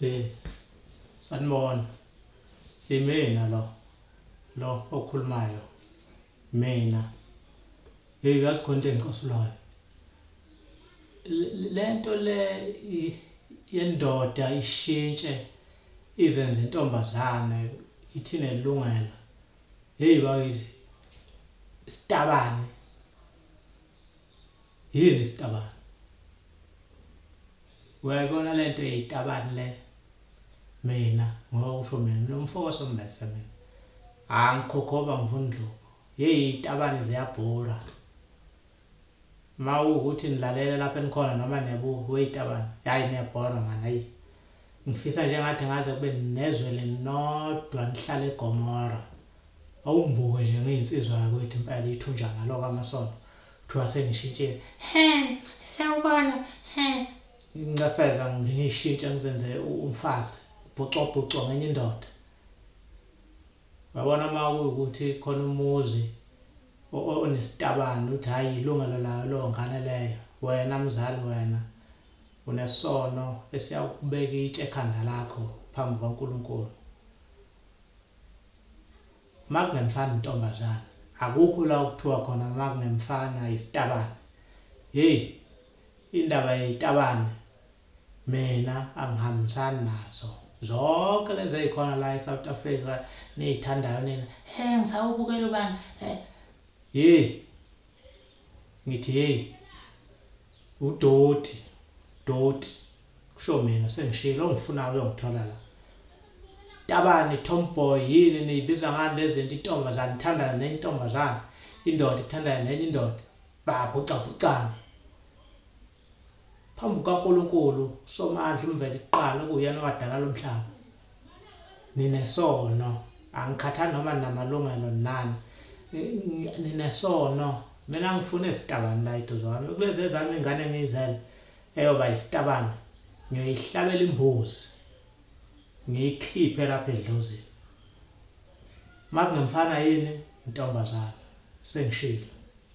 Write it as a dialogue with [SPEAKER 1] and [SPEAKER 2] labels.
[SPEAKER 1] Eh. Sanibona. Imina lo. Lo okhulumayo. Mina. Hey, yazi khona into engicosulayo. Lento le yendoda ishintshe izenze intombazane ithine lungela. Hey bakithi. Sitabane. Yini isitabane? Uyayibona le nto eyitabane le? Mina ngokusho mina lo mfo wasombese mina. Angikhokhoba ngifuna indlovu. Yeyi itabane ziyabhura. Uma ukuthi nilalela lapho enikhona noma nebu weyitabane. Yayi niyabhora mani ayi. Ngifisa nje ngathi ngaze kube nezwe lenodwa nihlale eGomora. Awumbuke nje ngiyinsizwa yakwethu impela ithunja ngalo kwamasono. Kuthiwa sengishintshile. He, sawubona. He. Ngincefeza ngishintshe ngizenze umfazi. Bhucobhuco ngenye indoda. Wabona uma ukuthi khona umuzi onesitabane uthi hayi ilungelo layo lo ngane leyo. Wena mzali wena. Unesono esiyakubeka itshe ekhanda lakho phambi kwaNkulunkulu. Makungemfana intombazana, akukho la ukuthiwa khona makungemfana isitabane. Hey, indaba yezitabane mina angihambisani nazo. Zonke lezi ezikhona la eSouth Africa nezithandayo nina, hey ngisawubukela ubani. Hey, ngithi hey udoti doti kusho mina sengishilo ongifunayo uyongithola la tabani tomboy yini niyibiza ngani lezinto intombazane ithandana nenye intombazane indoda ithandana nenye indoda babhucabhucana Phambi kukaNkulunkulu uSomandla uMveli kuqala okuwuyena owadala lo mhlaba. Ninesono. Angikhathali noma ninamalungelo nani. Ninesono. Mina ngifuna izitabani la eduze kwami. Kulezi ezami ingane engiyizele eyoba yisitabani. Ngiyoyihlabela imbuzi. Ngiyikhiphe lapha edlozini. Makungemfana yini, intombazana. Sengishilo.